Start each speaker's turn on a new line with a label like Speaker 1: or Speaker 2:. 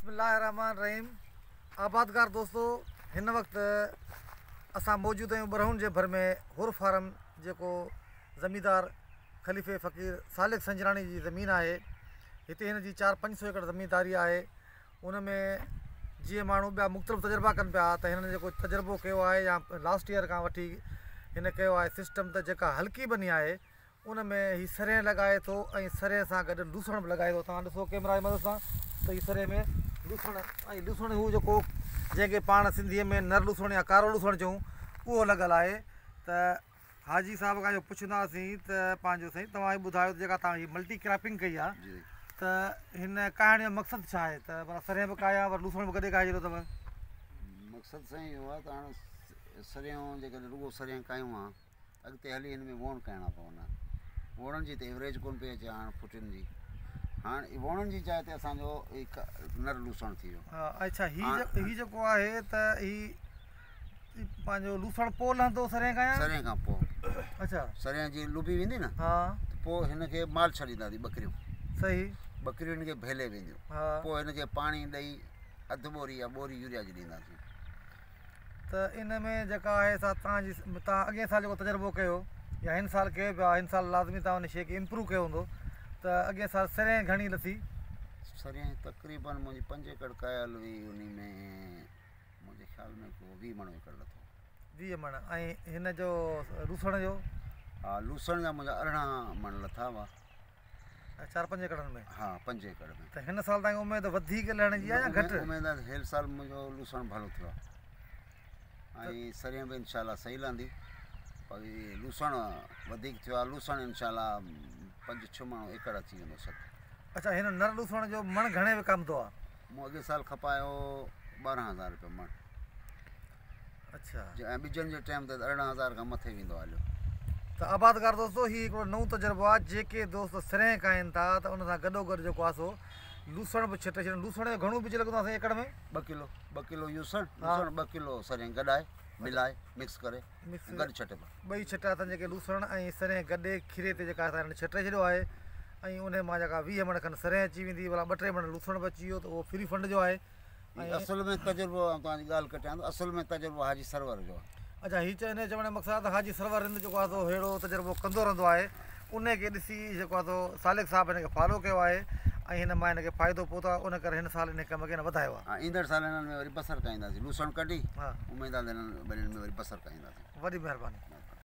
Speaker 1: بسم الله الرحمٰن الرحيم آبادگار دوستو هن وقت اسان موجود آهيون ٻرهون جي ڀر ۾ حر فارم جيڪو زميندار خليفي فقير سالڪ سنجراڻي جي زمين آهي هتي هن جي چار پنج سو ايڪڙ زمينداري آهي ان ۾ جيئن ماڻهو ٻيا مختلف تجربا ڪن پيا ته هنن جيڪو تجربو ڪيو آهي يا لاسٽ ايئر کان وٺي هن ڪيو آهي سسٽم ته جيڪا هلڪي ٻني آهي ان ۾ هي سرهين لڳائي ٿو ۽ سرهين سان گڏ لوسڻ به لڳائي ٿو توهان ڏسو ڪيمرا جي مدد سان ته هي سرهين ۾ لوسڻ ۽ لوسڻ هو جيڪو جنهن کي پاڻ سنڌيء ۾ نر لوسڻ يا ڪارو لوسڻ چئون اهو لڳل آهي ته حاجي صاحب کان اهو پڇنداسين ته پنهنجو سائين توهان هي ٻڌايو ته جيڪا توهان هي ملٽي ڪراپنگ ڪئي آهي ته هن ڪاهڻ جو مقصد ڇا آهي ته مطلب سرهين به ڪاهي ۽ لوسڻ به گڏي ڪاهي ڇڏيو اٿو مقصد
Speaker 2: سائين اهو آهي ته هاڻي سرهيون جيڪڏهن رڳو سرهين ڪاهيون آ اڳتي هلي هن ۾ ووڻ ڪهڻا پوندا. ووڻن جي ته ايوريج ڪونه پئي اچي هاڻ ڦٽين جي. هاڻ ووڻن جي جاء تي اسان جو نر لوسڻ ٿي ويو. ها اڇا هي
Speaker 1: هي جيڪو آهي ته هي پنهنجو لوسڻ پوء لهندو سرين کان يا سرين کان پوء
Speaker 2: اچھا سرين
Speaker 1: جي لوبي
Speaker 2: ويندي نه ها پوء هن
Speaker 1: کي
Speaker 2: مال ڇڏينداسي ٻڪريون صحيح
Speaker 1: ٻڪريون هن کي
Speaker 2: ڀيلي وينديون پوء هن کي
Speaker 1: پاڻي
Speaker 2: ڏئي اڌ ٻوري يا ٻوري يوريا جي ڏينداسين
Speaker 1: ته ان ۾ جيڪا آهي سا تان جي تان اڳين سال جيڪو تجربو ڪيو يا هن سال ڪيو پيا هن سال لازمي تان ان شيء کي امپروو ڪيو هوندو ته اڳين سال سرين گهڻي لٿي سرين
Speaker 2: تقريبن منهنجي پنج ايڪڙ ڪايل هئي ان ۾ منهنجي خيال ۾ ڪو ويهه مڻ ايڪڙ لٿو ويهه مڻ ۽
Speaker 1: هن جو لوسڻ جو ها لوسڻ
Speaker 2: جا منهنجا ارڙهن مڻ لٿا هئا چار
Speaker 1: پنج ايڪڙن ۾؟ ها پنج ايڪڙ ۾. ته
Speaker 2: هن سال توهان کي اميد
Speaker 1: وڌيڪ لهڻ جي آهي يا گهٽ؟ اميد آهي ته هيل سال منهنجو
Speaker 2: لوسڻ ڀلو ٿيو آهي ۽ سرين به انشاء الله صحيح لهندي پر لوسڻ وڌيڪ ٿيو آهي لوسڻ انشاء الله پنج ڇهه مڻ ايڪڙ اچي ويندو شڪ اچا هن نر
Speaker 1: لوسڻ جو مڻ گهڻي وڪامندو آهي؟ مون اڳي سال
Speaker 2: کپايو ٻارهن هزار روپيا مڻ
Speaker 1: اڇا ۽ ٻجن
Speaker 2: جي ٽيم تي ارڙهن هزار کان مٿي ويندو آهي هليو. ته آبادگار
Speaker 1: دوستو هي هڪڙو نئون تجربو آهي جيڪي دوست سرهين کائين ٿا ته ان سان گڏو گڏ جيڪو آهي سو لوسڻ به ڇٽي ڇڏيو لوسڻ جو گهڻو ٻج لڳندو آهي سائين ايڪڙ ۾ ٻه ڪلو ٻه ڪلو
Speaker 2: يوسڻ لوسڻ ٻه ڪلو سرهين گڏائي ملائي مڪس ڪري گڏ ڇٽبا ٻئي ڇٽا اٿن جيڪي
Speaker 1: لوسڻ ۽ سرهين گڏي کيري تي جيڪا سائين ڇٽي ڇڏيو آهي ۽ ان مان جيڪا ويهه مڻ کن سرهين اچي ويندي ڀلا ٻه ٽي مڻ لوسڻ به اچي ويو ته اهو فري فنڊ جو آهي ۽ اصل ۾ تجربو
Speaker 2: آئون توهان جي ڳالهه ڪٽيان ٿو اصل ۾ تجربو حاجي سرور جو آهي. اچا هي چئي انهي چوڻ جو
Speaker 1: مقصد آهي ته حاجي سرور رند جيڪو آهي سو ههڙو تجربو ڪندو رهندو آهي انهي کي ڏسي جيڪو آهي سو سالڪ صاحب هن کي فالو ڪيو آهي ۽ هن مان هن کي فائدو پهتو آهي ان ڪري هن سال انهي ڪم کي هن وڌايو آهي. ها ايندڙ سال هنن ۾
Speaker 2: وري بصر ڪاهينداسين لوسڻ ڪڍي اميد آهي ته هنن
Speaker 1: ٻنين
Speaker 2: ۾ وري بصر ڪاهينداسين. وڏي مهرباني.